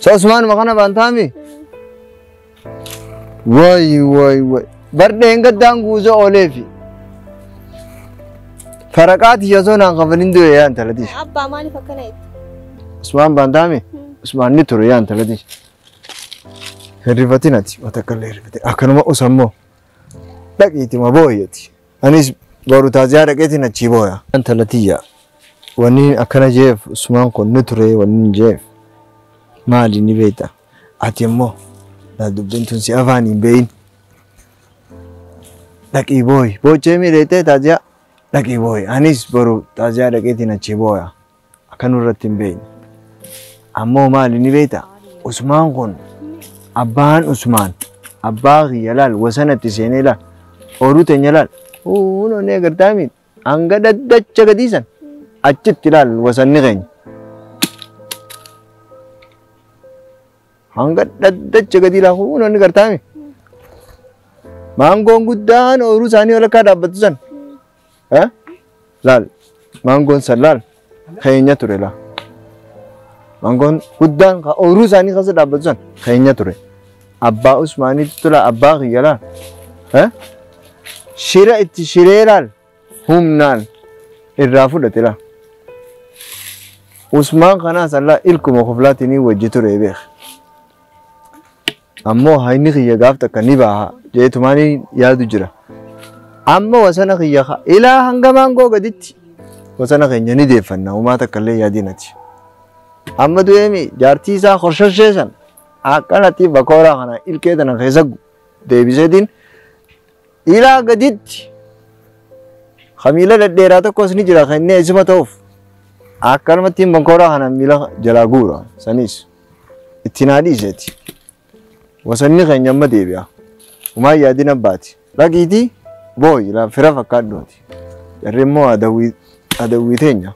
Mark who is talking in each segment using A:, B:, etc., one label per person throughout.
A: Sa Usmaanuma kana baantaami? Wayi wayi wayi. Bardheen gaddaan guuza ooleefi. Faraqaa tiyya osoo naan kafalin du'e yaa intala tiyya. Abbaa maaliif akkana
B: jette? Usmaan
A: baantaami? Usmaan ni ture yaa intala tiyya. Hirrifatin ati watakkallee hirrifatin. Akkanuma usammoo. Dhaqiitima booyyati. Anis boru taaziyaa dhaqeetiin achii booya. Intala tiyya wanni akkana jeef sumaan kun ni ture wanni jeef maali ni beekta ati immoo na dubbiin tun si afaan hin beeyin dhaqii booyi boochee miidheettee taaziyaa dhaqii booyi anis boru taaziyaa dhaqeetiin achii booya. akka nurratti hin beekne. Ammoo maali ni beekta? Usmaan kun abbaan Usmaan abbaa kiyya laal wasanatti seenee laal ooluu teenya laal huun onee agartaa miidha hanga daddacha gadiisan achitti laal wasanni keenya. Hanga daddacha gadii laal huun onni gartaa miidha. Maangoon guddaan ooluu isaanii walakkaa dhaabbatu sana. Eh? Laal, maangoon san laal, keenya ture laal. Maangoon guddaan ka ooyiruu isaanii keessa dhaabbatu san keenya ture. Abbaa Usmaaniitti tola abbaa kiyya laal. Eh? Shira itti shiree laal, humnaan irraa fudhate laal. Usmaan kanaa san laal ilkuma koflaatiin wajji ture beek. Ammoo hayni kiyya gaaf takka ni baaha jeetumaan yaadu jira. Amma wasana kiyya ka ilaa hanga maangoo gaditti wasana keenya ni deeffanna umaa takka illee yaadinati. Amma du'eemi jaartii isaa horshashee san akkanatti bakooraa kana ilkee tana keessa deebiseetiin ilaa gaditti ka miila dhedheeraa tokkos ni jira kennee isuma ta'uuf akkanumatti bakooraa kana miila jalaa guura sanis. Itti naa dhiiseeti. Wasanni keenya amma deebi'a. Umaa yaadin abbaati. Dhaqiitii booyi laa fira fakkaadhuuti. Jarri immoo adawwii adawwii teenya.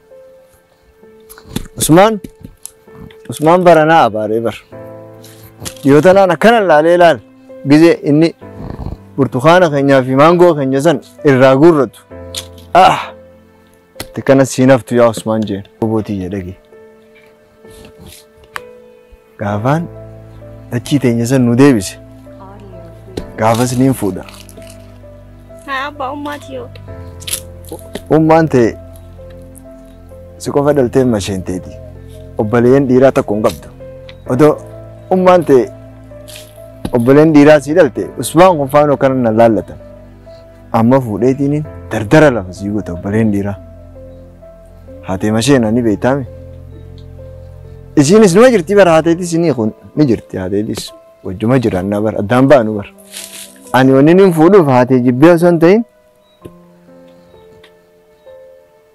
A: Usmaan Usmaan baranaa abaaree bar. Dhiyoo tanaan akkana laalee laal gizee inni burtukaana keenyaa fi maangoo keenya san irraa guurratu. Ah! Itti kana siin haftu yaa Usmaan jeen. Obootii jedhagee. Gaafaan dachii teenya san nu deebise. Gaafas niin fuudha. Haa
B: abbaa ummaati yoo. Ummaan ta'e
A: si qofa dhalteen masheen teeti. Obboleeyyan dhiiraa tokko hin qabdu. Odoo ummaan ta'e obboleen dhiiraa sii dhalte usmaan kun faanoo kana na laallatan. Amma fuudheetiin dardara lafa sii goota obboleen dhiiraa. Haatee masheen ani beektaami. Isiinis numa jirti bara haateetis ni kun ni jirti haateetis wajjuma jiraannaa bara addaan baanu bara. Ani wanni inni fuudhuuf haatee jibbee osoo hin ta'in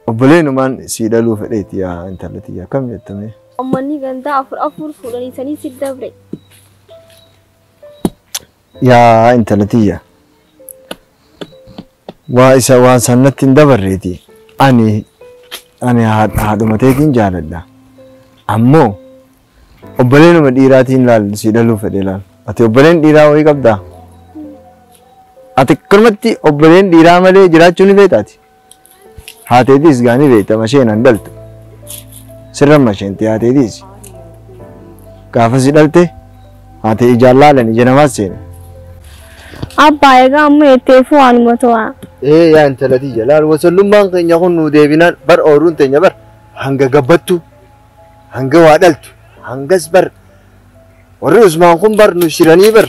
A: obboleenumaan sii dhaluu fedheeti yaa intala tiyya akkam jettamee. Uummanni gandaa
B: afur afur fuudhanii sanii si dabre.
A: Yaa intala tiyya. Waa isa waan san natti hin dabarreeti. Ani ani haadha haadhuma teetiin jaaladha. Ammoo obboleenuma dhiiraatiin laal si dhaluu fedhe laal. Ati obboleen dhiiraa wayii qabdaa? Ati akkanumatti obboleen dhiiraa malee jiraachuu ni feetaati. Haateetiis gaanii beekta masheen an dhalte. Sirran masheenti haateetiis. Gaafasi dhalte haatee ijaan laalan ija namaas seene.
B: Abbaa egaa amma jetteefu waanuma to'a. Ee yaa intala
A: tiyya laal wasallummaan keenya kun nuu deebinaan bar ooruun teenya bar hanga gabbattu hanga waa dhaltu hangas bar warri Usmaan kun bar nu shiranii bar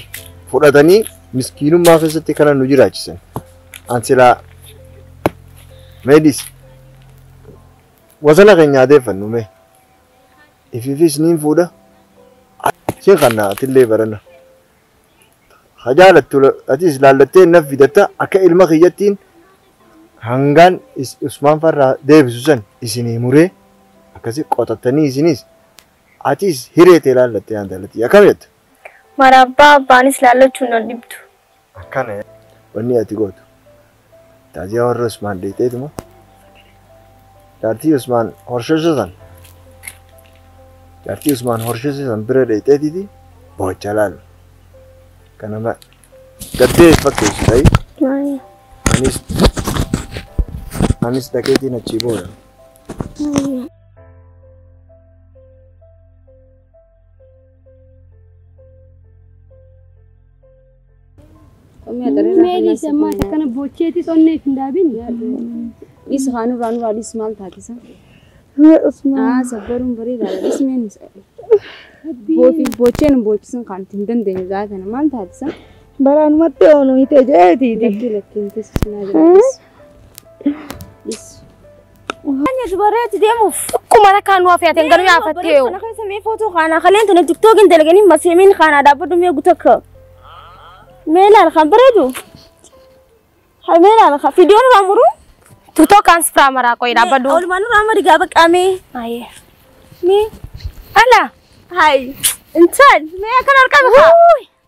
A: fudhatanii miskiinummaa keessatti kana nu jiraachisan. An silaa meedis wasana keenya adeeffannu mee ifiifis niin fuudha siin kanna atillee barana ha jaalattu atis laallattee naf fidatta akka ilma kiyyattiin hangaan is- usmaan farraa deebisu san isinii muree akkasi qotattanii isinis atis hiree tee laallattee aan jaalattii akkam jetta Marabbaa
B: abbaanis laallachuun nan dhibdu. Akkana
A: wanni ati gootu taaziyaa warra Usmaan dheexeetuma jaartii Usmaan horsheshe san jaartii Usmaan horsheshe san bira dheexeetiti bohacha laal kana ma gaddee fakkeessu ta'i Maaya. anis anis dhaqeetiin achii booda. Maaya.
C: Qommii ati irraa Mee dhiise ammaa isa kana boocheetis onnee hin daabin. Dhiisu haa nurraa nurraa dhiisu maal taatisa? Haa sabbaruun bareedaadha dhiisu mee nuus. Boofi boochee nu boochisuun kan itti hin dandeenye gaa kana maal taatisa? Baraanumatti
B: oolu hite jeetiiti. Lakkii lakkii hin teessu
C: sinaa jira dhiisu. Dhiisu.
B: Hanya dubaree itti deemuuf. Akkuma rakkaa nu hafee
D: ateen garuu yaafattee yoo. Kana keessa mee footoo kaanaa
B: kaleen tana tiktookiin dalaganii maseemiin kaanaa dhaabbadhu mee gutakka. Mee laal kan bareedu. Ha mee laal kan fiidiyoon irraa muruu. Tutoo kaans
D: firaa maraa qoyi dhaabbadhu. Oolmaan irraa amma dhigaa
B: baqqaa mee. Ayee.
D: Mee.
B: Ala.
D: Hayi.
B: Intal. Mee akkan harkaa baqa.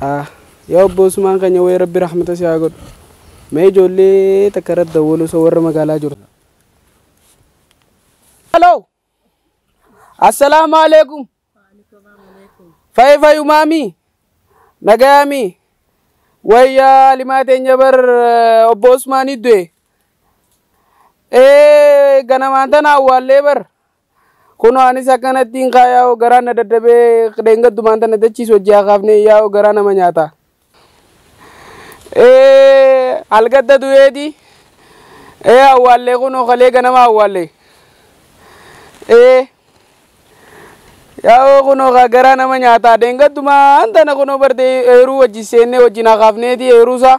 E: Ahh yaa obbo usmaan kenya wayii rabbi rahmata si haa godhu mee ijoollee takka irratti dawwaluu so warra magaalaa jiru. Hello. Assalaamu alaikum. Fayi fayu maami. Nagayaami. Wayyaa alimaa teenya bar eh, obbo Usmaanii du'e. Ee ganamaan tana awwaallee bar Kunoo anis akkanattiin kaa yaa'oo garaan na dadhabee dheengaddumaan tana dachiis wajji haa kaafnee yaa'oo garaa nama nyaata. Ee halgadda du'eeti. Ee awwaallee kunoo kalee ganama awwaallee. Ee yaa'oo kunoo kaa garaa nama nyaata dheengaddumaan tana kunoo barte eeruu wajji seennee wajjin haa kaafneeti eeruusaa.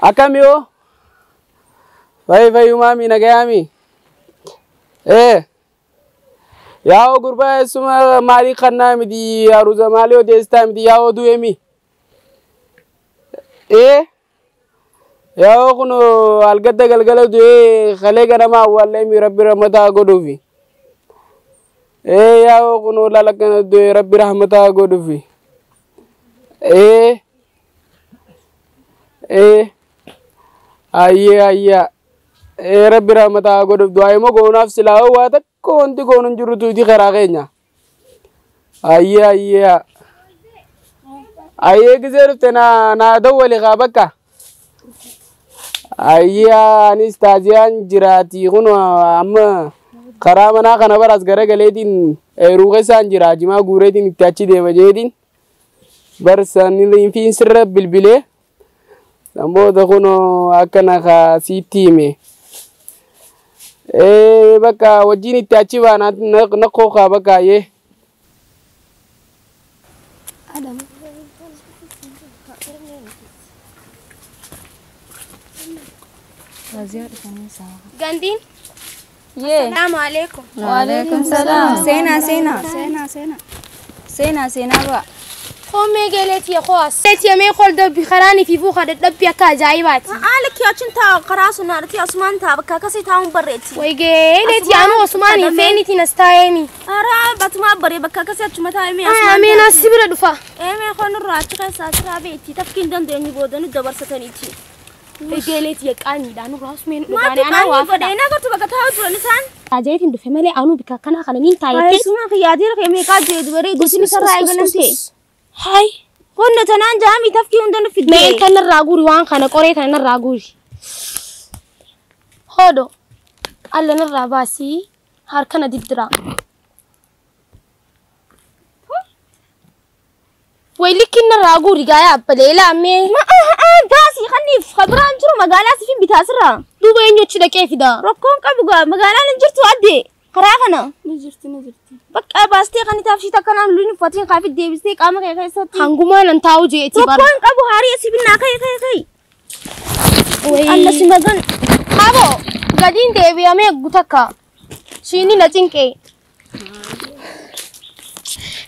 E: Akkami hoo? Fayi fayyumaami nagayaami? Ee. Yaa'oo gurbaa eessuma maalii kannaa miti aruuza maalii odeessitaa miti yaa'oo du'eemi? Ee. Yaa'oo kun algadda galgala du'ee kalee ganama awwaalleemi rabbi rahmataa godhuufi. Ee yaa'oo kun laala kana du'ee rabbi rahmataa godhuufi. Ee. ee ayyee ayyaa ee rabbi rahmata haa godhuuf du'aa immoo goonaaf silaa hoo waa takka wanti goonu hin jirrutu iti karaa keenya ayyee ayyee ayyee gisee dhufte naa naa dawwali kaa bakka ayyee anis taajiyaan jiraati kun amma karaa manaa kana baras garagaleetiin eeruu keessaan jira jimaa guureetiin itti achi deema jeetiin Barsa niliinfiin sirra bilbilee san booda kunoo akkana kaa siitti hime. Ee bakka wajjin itti achi baana nakkoo kaa bakka yee.
D: Gandiin
B: Yee. Salaamu alaikum.
D: Waalaikum salaam.
B: Seenaa seenaa. Seenaa seenaa. Seenaa seenaa ba'a. Koomee geelee
D: tiya kowaas. Tiya mee kol dabbi karaan ifi buuka dadhabbi akka ajaa'ibaati. Haala kiyaachin taa'u
B: karaa sun arti asumaan taa'u bakka akkasii taa'uun barreetti. Way geelee tiya
D: anuu osumaan hin feenitiin as taa'eemi. Araa batumaa
B: baree bakka akkasii achuma taa'e mee asumaan. Ameen as si bira dhufa.
D: Ee mee kol nurraa
B: achi keessaa siraa beetti tafkiin dandeenyu boodanu dabarsataniiti. Egeelee
D: tiyya qaanyiidhaan nu raasu mee nu Maatti dhugaane anaa qaanii waa godhee
B: fedha. na
D: gortu bakka taa'u
B: turan isaan. Taajeetiin dhufe malee
D: anuu bika akkanaa kana niin taayettee. Keessumaa kiyyaatiira kee
B: meeqaa jee dubaree gosin isarraa eegalamte. Hayi.
D: Qonna tanaan
B: jaamii tafkii hunda nu fidde. Mee kan narraa guuri waan
D: kana qoree kana narraa guuri. Hoodo. Alla narraa baasii harkana diddiraa. Way likkiin narraa guuri gaayaa abbalee laammee. Ma aha aha
B: daasii kanniif ka biraan jiru magaalaa siif hin bitaa sirraa. Duuba eenyu achi dhaqee
D: fida. Rakkoon qabu gaa
B: magaalaan hin jirtu adde karaa kana. Ni jirti
C: ni jirti. Bakka baastee
B: kan itaaf shiita akkanaa luluu hin uffatiin kaafit deebistee qaama kee keessatti. Hangumaa nan taa'u jeeti
D: bara. Tokko hin qabu haarii asii binnaa
B: ka'e ka'e ka'e.
D: Wayii. Anna si magan.
B: Haaboo
D: gadiin deebi'amee gutakka. Shiini na cinqee.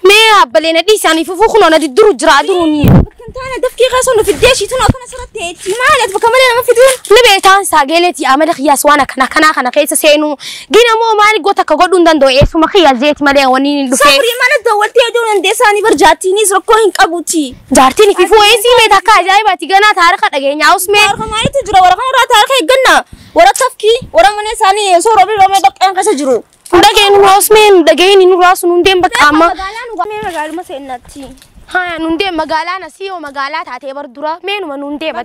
D: Mee abbalee na dhiisaanii fufuu kunoo na didduru jira duruuni. Kan taana dafkii
B: keessa nu fiddee shiituun akkana sirratti ta'etti maali ati bakka malee nama fiduun. Ni beektaan saageeleeti
D: amala kiyyaas waan akkana kanaa kana keessa seenuu. Gina moo maali goota akka godhuu hin danda'u eessuma kiyyaa zeeti malee waniin hin dhufee. Sabrii mana dawwaltee
B: hojii dandeessaanii barjaattiinis rakkoo hin qabuti. Jaartiin fi fu'eesii
D: meeta akka ajaa'ibaati ganaa taarika dhageenyaa usmee. Taarika maaliitu jira warra
B: kanarraa taarika eeggannaa. Warakafki wara mana isaanii osoo roobni roobee dhoqqeen keessa jiru. Hin dhageenyu nu osmee
D: hin dhageenyu hin raasu nuun deem bakka amma. Magaalaan ugamee magaaluma
B: seennatti. Haa
D: nuun deem magaalaan asii
B: yoo
D: magaalaa taatee bar dura
B: meenuma
D: nuun deema.